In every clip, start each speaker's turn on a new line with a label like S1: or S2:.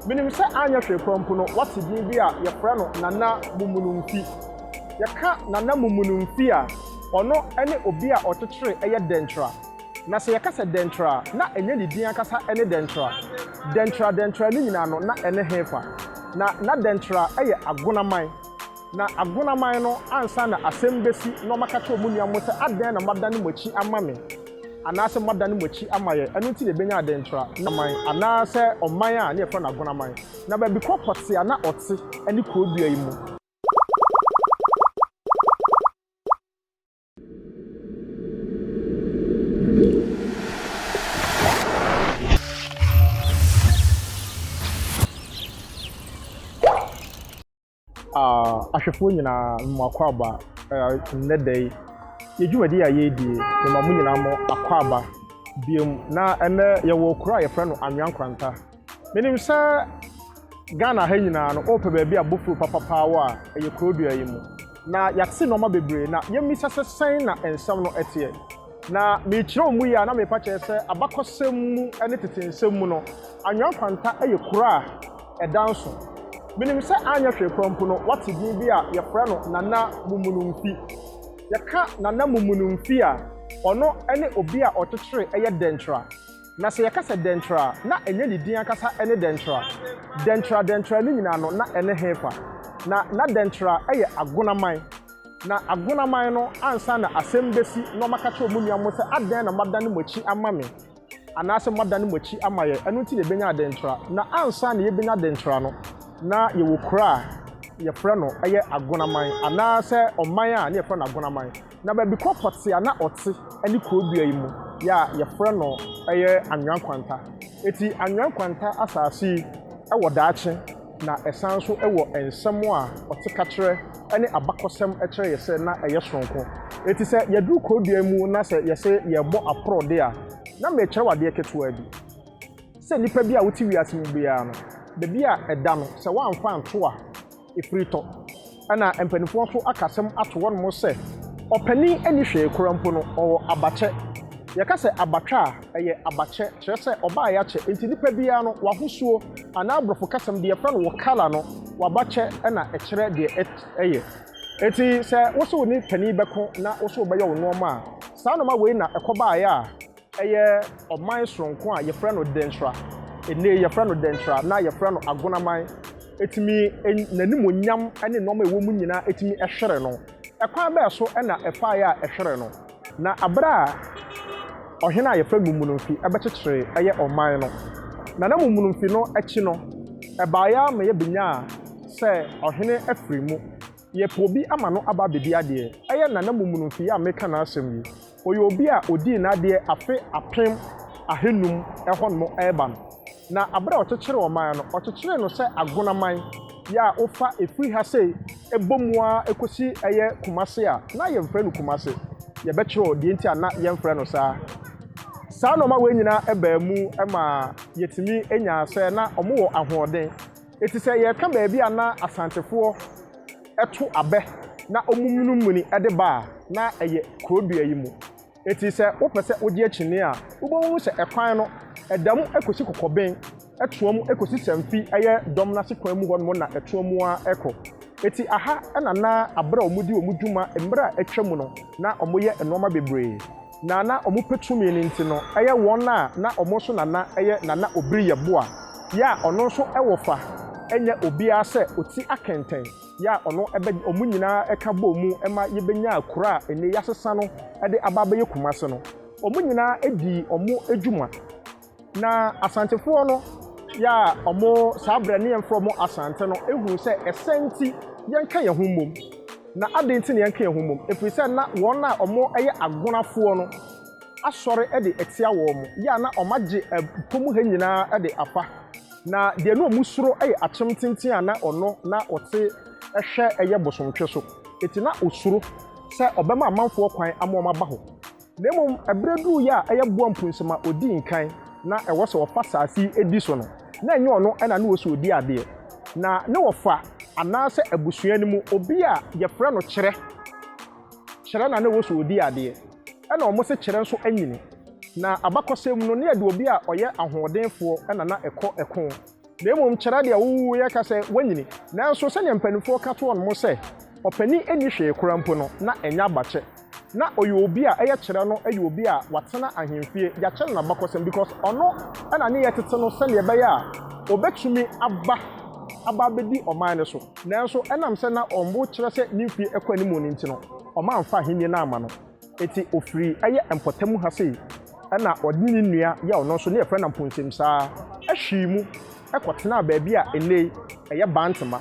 S1: Menim sɛ anyɛ hwee koraa mpo no, woate din bi a wɔfrɛ no Nana Mumununfi. Yɛka Nana Mumununfi a, ɔno ne obi a ɔkyekyeree ɛyɛ Dɛnkyira. Na sɛ yɛka sɛ Dɛnkyira a, na ɛnyɛ ne din ankasa ne Dɛnkyira. Dɛnkyira Dɛnkyira no nyinaa no, na ɛne hefa? Na na Dɛnkyira yɛ Agonaman. Na Agonaman no, ansa na asɛm bɛsi na wɔaka kyerɛ wɔn nuanom sɛ, Adɛn na moadane mo akyi ama me? Anaasɛ moadane mo akyi ama yɛn, ɛno nti na ɛbɛnya adɛntra na man, anaasɛ ɔman a na yɛfrɛ no Agonaman, na baabi korɔ pɔtee a na ɔte ne kuro dua yi mu. Ahwɛfoɔ nyinaa, mema mo akwaaba nnɛ da yi. Yɛn dwumadie a yɛredi yi, mema mo nyinaa mo akwaaba bio. Na ɛnnɛ yɛwɔ kuro a yɛfrɛ no Anwea Nkranta. Menim sɛ Ghana ha nyinaa no, wopɛ baabi a bofuo papapaa wɔ a, ɛyɛ Kurodua yi mu. Na yɛate nnoɔma bebree, na yɛmmisa sɛ sɛn na nsɛm no teɛ? Na merekyerɛw mu yi a na merepa kyɛw sɛ abakɔsɛm mu ne tete nsɛm mu no, Anwea Nkwanta yɛ kuro a ɛda nso. Menim sɛ anyɛ hwee koraa mpo no, woate din bi a wɔfrɛ no Nana Mumunumfi. Yɛka Nana Mumunumfi a, ɔno ne obi a ɔkyekyeree ɛyɛ Dɛnkyerɛ. Na sɛ yɛka sɛ Dɛnkyerɛ a, na ɛnyɛ ne din ankasa ne Dɛnkyerɛ. Dɛnkyerɛ Dɛnkyerɛ no nyinaa no, na ɛne hefa? Na na Dɛnkyerɛ yɛ Agonaman. Na agunaman no ansa na asɛm besi na ɔmaka kyerɛ ɔmo nua mo sɛ, Adɛn na moadane mo akyi ama me? Anaasɛ moadane mo akyi ama yɛn, ɛno nti na yɛbɛnya adentra. Na ansa na yɛbɛnya adentra no, na yɛwɔ kuro a yɛfrɛ no ɛyɛ agunaman, anaasɛ ɔman a na yɛfrɛ no agunaman. Na baabi kɔkɔ te a na ɔte ɛne kuro dua yi mu yɛ a yɛfrɛ no ɛyɛ Anwea Nkwanta. Eti Anwea Nkwanta asaase yi ɛwɔ daakye. Na ɛsan nso wɔ nsɛm a ɔtekakyerɛ ne abakɔsɛm kyerɛ yɛ sɛ na ɛyɛ sononko. Enti sɛ yɛduru kuro dua mu na sɛ yɛse yɛrebɔ aporɔ de a, na merekyerɛw adeɛ ketewaa bi. Sɛ nnipa bi a wote wiase mu biara no, baabi a ɛda no, sɛ woamfa anto a, ɛfiri tɔ. Ɛna mpaninfoɔ nso aka asɛm ato hɔ nom sɛ, Ɔpanin nni hwee kora mpo no, ɔwɔ abakyɛ. Yɛka sɛ abatwɛ a, ɛyɛ abakyɛ, kyerɛ sɛ ɔbaa yɛakyɛ. Enti nipa biara no, w'ahosuo, anaa aborɔfo kasam deɛ yɛfrɛ no wo colour no, w'abakyɛ na ɛkyerɛ deɛ ɛyɛ. Enti sɛ wose wone panin bɛko na wose wobɛyɛ wo nnoɔma a, saa nnoɔma wei na ɛkɔbaeɛ a, Ɛyɛ ɔman soronko a yɛfrɛ no Densra, nnɛyi yɛfrɛ no Dentra na yɛfrɛ no Agonaman, ɛtumi, n'animuonyam ne nnoɔma a ɛwɔ mu nyinaa ɛtumi hwere no. Ɛkwan bɛɛ so na ɛfaeɛ a ɛhwere no? Na berɛ a ɔhene a yɛfrɛ no Mumununfi bɛkyekyeree ɛyɛ ɔman no, na na Mumununfi no akyi no, ɛbaeɛ ara ma yɛbɛnyaa sɛ ɔhene afiri mu. Yɛpɛ obi ama no aba abɛdi adeɛ. Ɛyɛ Nana Mummunumfi a mereka n'asɛm yi. Ɔyɛ obi a ɔdii n'adeɛ afe apem ahanum hɔnom reba no. Na berɛ a ɔkyekyeree ɔman no, ɔkyekyeree no sɛ Agonaman yi a wofa firi ha sei bɔ mu ara kɔsi ɛyɛ Kumase a na yɛmfrɛ no Kumase. Yɛbɛkyerɛw deɛ nti a na yɛmfrɛ no saa. Saa nnoɔma wei nyinaa baa mu maa yɛtumi nyaa sɛ na wɔwɔ ahoɔden. Eti sɛ yɛka baabi a na Asantefoɔ to abɛ na wɔmunumuni de ba a, na ɛyɛ kuro dua yi mu. Eti sɛ wopɛ sɛ wogye akyinnye a, wobɛhunu sɛ ɛkwan no, ɛda mu kɔsi Kɔkɔben, ɛtoa mu kɔsi Sanfi, ɛyɛ dɔm no ase kwan mu hɔnom na ɛtoa mu ara kɔ. Eti aha na na abere a wɔdi wɔn dwuma mmerɛ a atwa mu no, na wɔyɛ nnoɔma bebree. Na na ɔmo pɛ tumi no nti no ɛyɛ wɔn a na ɔmo nso na na ɛyɛ Nana Obiri yɛ boa yɛ a ɔno nso wɔ fa ɛnyɛ obiara sɛ ɔti akɛntɛn yɛ a ɔno bɛ ɔmo nyinaa ɛka bɔɔ mu ma yɛ bɛ nyaa kuro a ɛnɛ yasesa no ɛde aba abɛyɛ Kumasi no ɔmo nyinaa dii ɔmo adwuma Na Asantefoɔ no yɛ a ɔmo saa berɛ ne yɛmfrɛ ɔmo Asante no huu sɛ ɛsɛ nti yɛnka yɛn ho mmom. Na adɛn nti na yɛnka yɛn ho mmom? Ɛfiri sɛ na wɔn a ɔmo yɛ agonafoɔ no asɔre de atia wɔn, yɛ a na ɔmo agye ɛpo mu ha nyinaa de afa. Na deɛ na ɔmo suro yɛ akyem tenten a na ɔno na ɔte hwɛ yɛ bosomtwe so. Enti na ɔsuro sɛ ɔbɛma amanfoɔ kwan ama wɔn aba hɔ. Na mmom ɛberɛ duruu yɛ a ɛyɛ boa mpunsom a ɔdi nkan na ɛwɔ sɛ ɔfa saase yi di so no, na ɛnyɛ ɔno na ne wɔ sɛ ɔdi adeɛ. Na ne wɔfa anaa sɛ abusua no mu obi a yɛfrɛ no Kyerɛ, Kyerɛ na ne wɔ sɛ ɔdi adeɛ, ɛna wɔn se Kyerɛ nso anyini. Na abakɔsɛm mu no, ne yɛde obi a ɔyɛ ahoɔdenfoɔ na na ɛkɔ ɛko. Na mmom kyerɛ deɛ wowoeɛ ka sɛ woanyini. Nanso sɛdeɛ mpanimfoɔ ka to wɔn sɛ, Ɔpanin nni hwee koraa mpo no, na ɛnyɛ abakyɛ. Na ɔyɛ obi a ɛyɛ kyerɛ no yɛ obi a watena ahemfie, yɛakyɛ no n'abakɔsɛm because ɔno na ne yɛ tete no sɛdeɛ ɛbɛyɛ a ɔbɛtumi aba aba abɛdi ɔman no so. Nanso ɛnam sɛ na wɔn bo kyerɛ sɛ ne mfeɛ kɔ anim no nti no, wɔamfa ahennie no amma no. Eti ofiri ɛyɛ mpɔtamu ha sei ɛna ɔde ne nua yɛ ɔno nso ne yɛfrɛ no Amponsem saa ɛhwii mu ɛkɔ tenaa baabi a nnei ɛyɛ Bantema.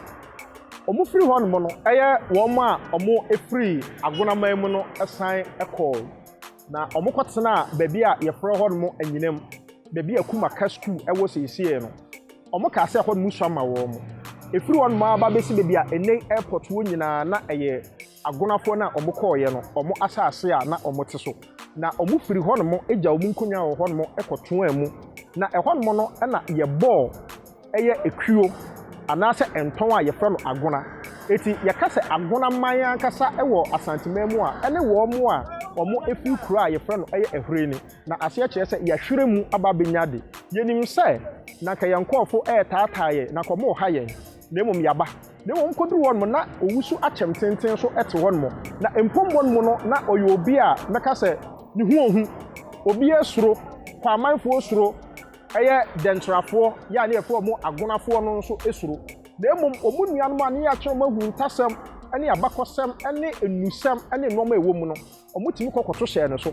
S1: Ɔmo firi hɔ nom no ɛyɛ wɔn a ɔmo efiri Agonaman mu no ɛsan ɛkɔɔ na ɔmo kɔ tenaa baabi a yɛfrɛ hɔ nom Anyinam baabi a Kuma ka sukuu ɛwɔ seisei no. Ɔmo kaa sɛ ɛhɔ nom sua ma wɔn. Efiri hɔ nom aa ba besi baabi a nnei Airport wɔ nyinaa na ɛyɛ. Agonafoɔ no a wɔkɔeɛ no, wɔn asase a na wɔte so, na wɔfirii hɔnom gyaa wɔn nkonnwa a ɛwɔ hɔnom kɔtoaa mu. Na ɛhɔnom no na yɛbɔɔ ɛyɛ ekuo anaasɛ ntɔn a yɛfrɛ no agona. Enti yɛka sɛ agona man ankasa wɔ Asanteman mu a, ɛne wɔn a wɔfiri kuro a yɛfrɛ no ɛyɛ Ahurei no. Na aseɛ kyerɛ sɛ yɛahwere mu aba abɛnya ade. Yɛnim sɛ na anka yɛn nkurɔfoɔ retaataa yɛn, na anka wɔreha yɛn. na mmom yɛaba, na mmom koduru hɔnom na owu so akyɛm tenten so te hɔnom, na mpom bɔ no mu no na ɔyɛ obi a mɛka sɛ ne ho ohu, obiara suro, Kwaamanfoɔ suro, ɛyɛ Dɛnkyirafoɔ yɛ a ne yɛfrɛ ɔmo Agonafoɔ no nso suro, na mmom ɔmo nuanom a ne yɛakyerɛ ɔmo ahuntasɛm ne abakɔsɛm ne nnusɛm ne nnoɔma a ɛwɔ mu no, ɔmo tumi kɔ kɔto hyɛ no so.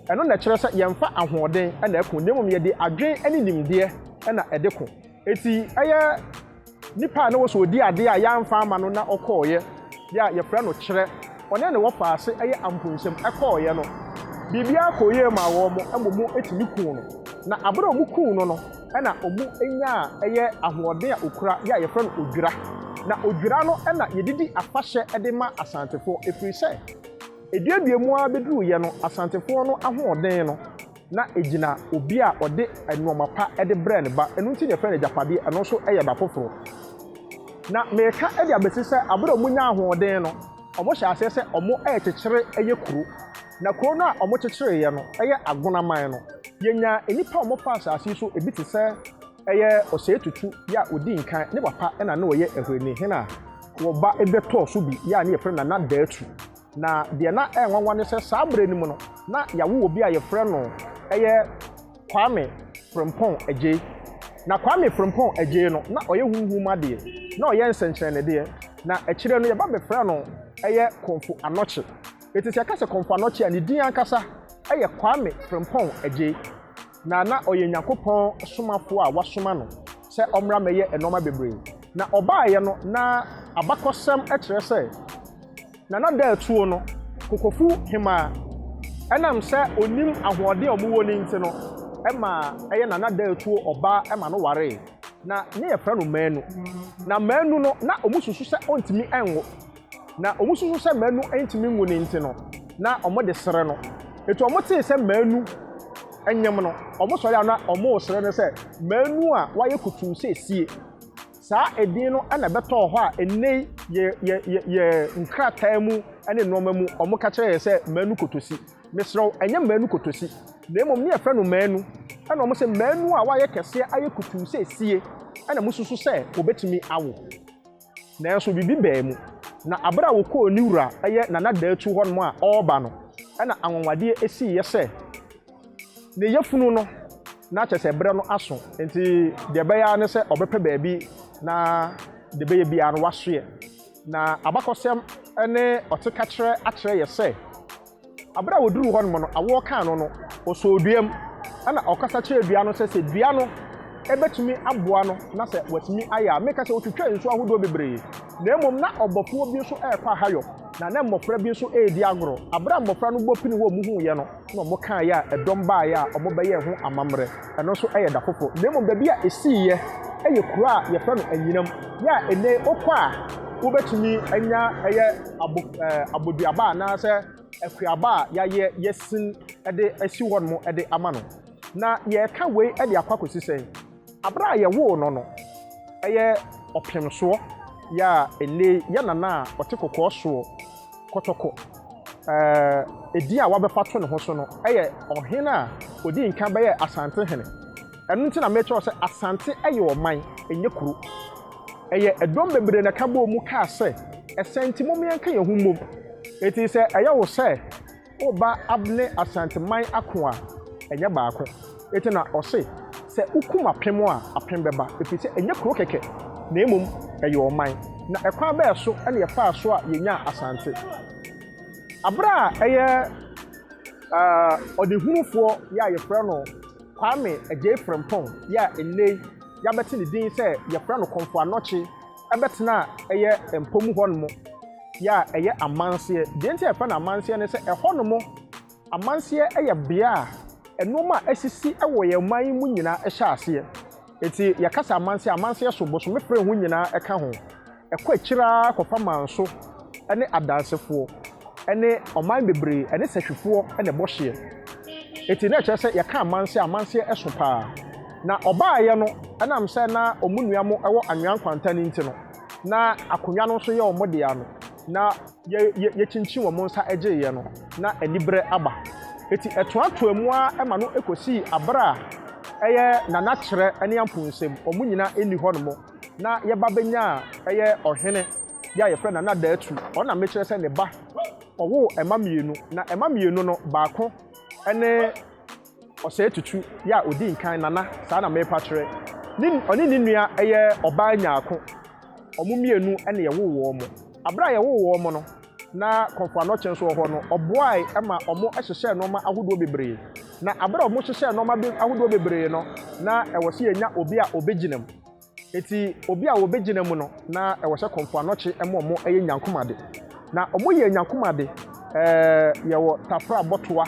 S1: Ɛno na ɛkyerɛ sɛ yɛmfa ahoɔden na ɛko, na mmom yɛde adwene ne nimdeɛ na ɛde ko. Eti ɛyɛ nipa a na ɔwɔ sɛ ɔdi adeɛ a yɛamfa ama no na ɔkɔeɛ, deɛ a yɛfrɛ no kyerɛ, ɔne ne wɔfaase ɛyɛ amponnsɛm, ɛkɔeɛ no, biribiara kɔɔ yie maa wɔn, mmom wɔtumi kuu no. Na berɛ a wɔkuu no no, ɛna wɔnyaa ɛyɛ ahoɔden a ɔkura, deɛ a yɛfrɛ no odwira. Na odwira no na yɛde di afahyɛ de ma Asantefoɔ, ɛfiri sɛ, ɛduadua mu ara bɛduruiɛ no, Asantefoɔ no ahoɔden no, na egyina obi a ɔde nnoɔma pa de brɛɛ ne ba, ɛno nti na yɛfrɛ no agyapadeɛ, ɛno nso yɛ ba foforɔ. Na mereka de abɛsi sɛ aberɛ a wɔnya ahoɔden no, wɔhyɛ aseɛ sɛ wɔrekyekyere yɛ kuro, na kuro no a wɔkyekyereeɛ no yɛ Agonaman no. Yɛnyaa nnipa a wɔfa asase yi so bi te sɛ ɛyɛ Osei Tutu, yɛ a ɔdii nkan, ne papa na na ɔyɛ Ahwini hene a wɔba bɛtɔɔ so bi, yɛ a na yɛfrɛ no Nana Daatu. Na deɛ na ɛyɛ nwanwa ne sɛ saa berɛ no mu no, na yɛawo obi a yɛfrɛ no yɛ Kwame Frimpong Adjei. Na Kwame Frimpong Adjei no, na ɔyɛ honhom adeɛ, na ɔyɛ nsɛnkyerɛnnedeɛ. Na akyire no, yɛba bɛfrɛɛ no yɛ Komfo Anokye. Enti sɛ yɛka sɛ Komfo Anokye a, ne din ankasa yɛ Kwame Frimpong Adjei. na na ɔyɛ Nyankopɔn somafoɔ a wɔasoma no sɛ ɔmmra mmɛyɛ nnoɔma bebree. Na ɔbaeɛ no, na abakɔsɛm kyerɛ sɛ na n'adaatuo no, kokofu hemaa. Ɛnam sɛ ɔnim ahoɔden a wɔwɔ no nti no, ɛma ɛyɛ na n'adaatuo ɔbaa ma no waree, na ne yɛfrɛ no Manu. Na Manu no, na wɔsusu sɛ ɔntumi nwo. Na wɔsusu sɛ Manu ntumi nwu no nti no, na wɔde sere no. Enti wɔtee sɛ Manu nyem no, wɔsɔre a na wɔresere no sɛ, Manu a wayɛ kutuu seesie. Saa edin no na ɛbɛtɔɔ hɔ a nnɛ yi yɛ yɛ yɛ yɛ nkrataa mu ne nnoɔma mu wɔka kyerɛ yɛn sɛ Manu Kotosi. Mesrɛ wo, ɛnyɛ Manu Kotosi, na mmom ne yɛfrɛ no Manu. Ɛna wɔse Manu a wayɛ kɛseɛ ayɛ kutuu seesie na mosusu sɛ ɔbɛtumi awo. Nanso biribi baa mu, na bere a wɔkɔɔ ne wura, ɛyɛ Nana Datu hɔnom a ɔreba no, ɛnna anwanwadeɛ siiɛ sɛ ne yafunu no, na kyerɛ sɛ ɛberɛ no aso, enti deɛ ɛbɛyɛ ara ne sɛ ɔbɛpɛ baabi na deɛ ɛbɛyɛ biara no wasoɛ. Na abakɔsɛm ne ɔtekakyerɛ akyerɛ yɛ sɛ. Bere a wɔduruu hɔnom no, awoɔ kaa no no, ɔsɔɔ dua mu. Ɛnna ɔkasa kyerɛɛ dua no sɛ, Sɛ dua no bɛtumi aboa no na sɛ watumi ayɛ a, mereka sɛ ɔtwitwaa nsu ahodoɔ bebree. Na mmom na ɔbɔfoɔ bi nso rekɔ ahayɔ, na na mmɔfra bi nso redi agorɔ. Bere a mmɔfra no bɔ pini wɔn huiɛ no, na wɔkaeɛ a, ɛdɔm baeɛ a wɔbɛyɛɛ ho amammerɛ. Ɛno nso yɛ da foforɔ. Na mmom baabi a ɛsiiɛ yɛ kuro a yɛfrɛ no Anyinam. Yɛ a ɛnɛ yi wokɔ a, wobɛtumi anya ɛyɛ abo ɛɛ aboduaba anaasɛ akuaba a yɛayɛ yɛsin de asi hɔnom de ama no. Na yɛreka wei de akɔ akɔsi sɛn? Aberɛ a yɛwoo no no, ɛyɛ ɔpemsoɔ. Yɛ a ɛnɛ yi yɛ nana a ɔte kɔkɔɔ soɔ. Kɔtɔkɔ a din a wɔabɛfa ato ne ho so no yɛ ɔhene a odii nkan bɛyɛɛ Asante hene. Ɛno nti na mekyerɛw sɛ Asante yɛ ɔman, ɛnyɛ kuro. Ɛyɛ dɔm bebree na ɛka bɔɔ mu kaa sɛ, Ɛsɛ nti mom yɛnka yɛn ho mmom. Enti sɛ ɛyɛ wo sɛ woreba ne Asanteman ako a, ɛnyɛ baako. Enti na ɔse, Sɛ wokum apem a, apem bɛba, ɛfiri sɛ ɛnyɛ kuro kɛkɛ, na mmom ɛyɛ ɔman. Na ɛkwan bɛɛ so na yɛfaa so a yɛnyaa Asante? Aberɛ a ɛyɛ ɔdehunufoɔ yɛ a yɛfrɛ no Kwame Agyei Frimpong yɛ a nnɛi yɛabɛte ne din sɛ yɛfrɛ no Komfo Anokye bɛtenaa ɛyɛ Mpomu hɔnom yɛ a ɛyɛ amanseɛ. Deɛ nti a yɛfrɛ no amanseɛ ne sɛ ɛhɔnom, Amanseɛ yɛ bea a nnoɔma a asisi wɔ yɛn ɔman yi mu nyinaa hyɛ aseɛ. Nti yɛka sɛ amanseɛ a, amanseɛ so bosome pere ho nyinaa ka ho. Ɛkɔ akyiri ara kɔfa Manso ne Adansefoɔ ne ɔman bebree ɛne Sahwifoɔ na ɛbɔ hyeɛ. Nti na ɛkyerɛ sɛ yɛka amanseɛ a, amanseɛ so pa ara. Na ɔbaeɛ no, ɛnam sɛ na wɔn nua mo wɔ Anwea Nkwanta no nti no, na akonnwa no nso yɛ wɔn dea no, na Yɛ, yɛ, yɛkyinkyin wɔn nsa gyeeɛ no, na aniberɛ aba. Enti ɛtoatoaa mu ara ma no kɔsii aberɛ a ɛyɛ nanakyerɛ ne ampunsem, wɔn nyina nni hɔ nom, na yɛba bɛnyaa ɛyɛ ɔhene bi a yɛfrɛ no Nana Daatu, ɔno na mekyerɛ sɛ ne ba, ɔwoo mma mmienu, na mma mmienu no, baako ne. Ɔsɛe Tutu yɛ a ɔdii nkan, Nana, saa na merepa kyerɛ, ne, ɔne ne nua yɛ ɔbaa nyaako. Wɔn mmienu na yɛwoo wɔn. Bere a yɛwoo wɔn no, na Komfo Anokye nso wɔ hɔ no, ɔboae ma wɔhyehyɛɛ nneɛma ahodoɔ bebree. Na bere a wɔhyehyɛɛ nneɛma ahodoɔ bebree no, na ɛwɔ sɛ yɛnya obi a ɔbɛgyina mu. Eti obi a wobegyina mu no, na wɔhyɛ kɔmfo anɔkye ma wɔyɛ nyankom ade. Na wɔyɛɛ nyankom ade, yɛwɔ tafra bɔtoa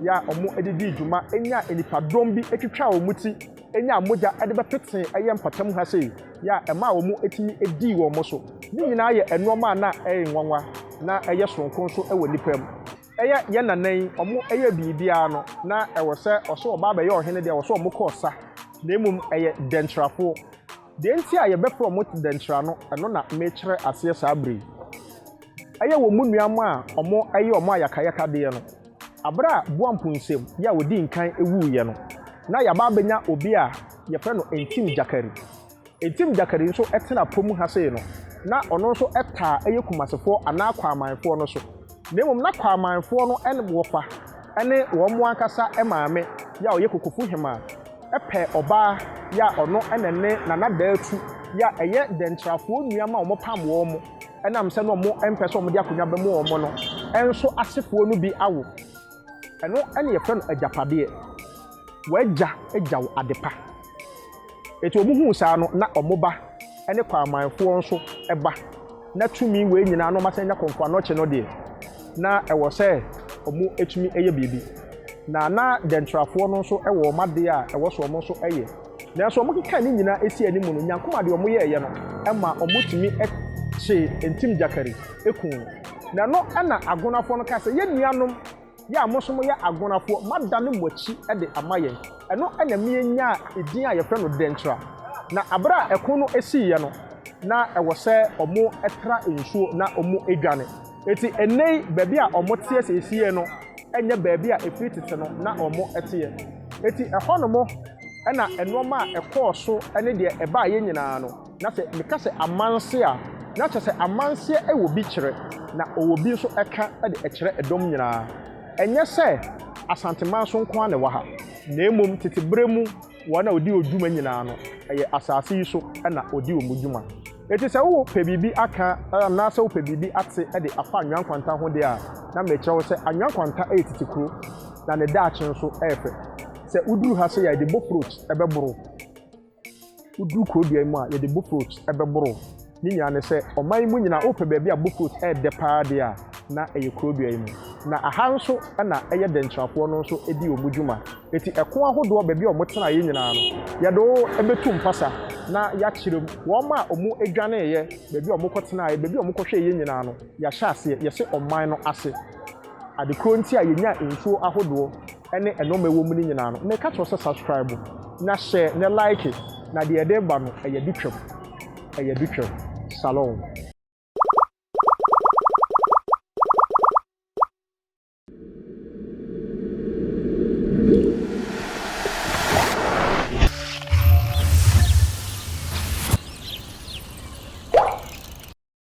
S1: yɛ a wɔde dii dwuma nyaa nnipadɔm bi twitwaa wɔn ti nyaa mogya de bɛpetee ɛyɛ mpatamu ha sei yɛ a ɛmaa wɔtumi dii wɔn so. Ne nyinaa yɛ nnoɔma a na ɛyɛ nwanwa na ɛyɛ sononko nso wɔ nnipa mu. Ɛyɛ yɛn nana yi, wɔyɛɛ biribiara no, na ɛwɔ sɛ wɔso wɔba abɛyɛ ɔhene deɛ, wɔso wɔkɔɔ sa, na mmom ɛyɛ dɛnkyerɛfoɔ. Deɛ nti a yɛbɛfrɛ wɔn dɛnkyerɛ no, ɛno na mekyerɛ aseɛ saa berɛ yi. Ɛyɛ wɔn nua mma a wɔyɛ wɔn ayakayakadeɛ no. Berɛ a Boampo Nsem yɛ a ɔdii nkan wuiɛ no, na yɛaba abɛnya obi a yɛfrɛ no Ntim Gyakari. Ntim Gyakari nso tena po mu ha sei no, na ɔno nso taa yɛ Kumasefoɔ anaa Kwaamanfoɔ no so. Na mmom na Kwaamanfoɔ no wɔfa ne wɔn ankasa maame yɛ a ɔyɛ Kokofu Hemaa pɛ ɔbaa yɛ a ɔno na ɛne Nana Daatu yɛ a ɛyɛ Dɛntrafoɔ nua ma wɔpam wɔn ɛnam sɛ na wɔmpɛ sɛ wɔde akonnwa bɛmo wɔn no nso asefoɔ no bi awo. Ɛno na yɛfrɛ no agyapadeɛ. W'agya gya wo adepa. Enti wɔn huu saa no, na wɔn ba ne kwamanfoɔ nso ba. Na tumi wei nyinaa na wɔasan anya kɔmfoɔ anɔkye no deɛ, na ɛwɔ sɛ wɔtumi yɛ biribi. Na na dɛntrafoɔ no nso wɔ wɔn adeɛ a ɛwɔ sɛ wɔn nso yɛ. Nanso wɔkeka ne nyinaa sii anim no, Nyankomah deɛ wɔyɛeɛ no ma wɔtumi kyee ntimgyakari kuu no. Na ɛno na Agonafoɔ no ka sɛ, Yɛn nuanom, yɛ a mo nso moyɛ Agonafoɔ, moadane mo akyi de ama yɛn. Ɛno na ɛma yɛnyaa edin a yɛfrɛ no Denkyira. Na berɛ a ɛko no siiɛ no, na ɛwɔ sɛ wɔtra nsuo na wɔdwane. Enti ɛnnɛ yi, baabi a wɔteɛ seesei no nyɛ baabi a ɛfiri tete no na wɔteɛ. Enti ɛhɔnom na nnoɔma a ɛkɔɔ so ne deɛ ɛbaeɛ nyinaa no. Na sɛ meka sɛ amanse a, na kyerɛ sɛ amanseɛ wɔ bi kyerɛ, na ɔwɔ bi nso ka de ɛkyerɛ ɛdɔm nyinaa. Ɛnyɛ sɛ Asanteman so nko ara na ɛwɔ ha, na mmom tete berɛ mu wɔn a wɔdi hɔ dwuma nyinaa no, ɛyɛ asase yi so na wɔdi wɔn dwuma. Enti sɛ wopɛ biribi aka anaasɛ wopɛ biribi ate de afa Anwea Nkwanta ho deɛ a, na merekyerɛ wo sɛ Anwea Nkwanta yɛ tete kuro, na ne daakye nso yɛ fɛ. Sɛ woduru ha sei a, ɛde boat route bɛboro. Woduu kuro dua yi mu a, yɛde bofrot bɛboro. Ne nyinaa ne sɛ, ɔman yi mu nyinaa, wopɛ baabi a bofrot yɛ dɛ paa deɛ a, na ɛyɛ kuro dua yi mu. Na aha nso na ɛyɛ dɛnkyirafoɔ no nso di wɔn dwuma. Enti ɛko ahodoɔ, baabi a wɔtenaeɛ nyinaa no, yɛde wɔn bɛtu mpasa na yɛakyerɛ mu. Wɔn a wɔdwaneeɛ, baabi a wɔkɔtenaeɛ, baabi a wɔkɔhwɛeɛ nyinaa no, yɛahyɛ aseɛ, yɛhyɛ ɔman no ase. Ade korɔ nti a yɛnyaa nsuo ahodoɔ. ɛne ɛnoɔma ɛwɔ mu no nyinaa no meka kyerɛ wo sɛ subscribe na hyɛ na like na deɛ ɛde ba no ɛyɛ de twam ɛyɛ de twam shalom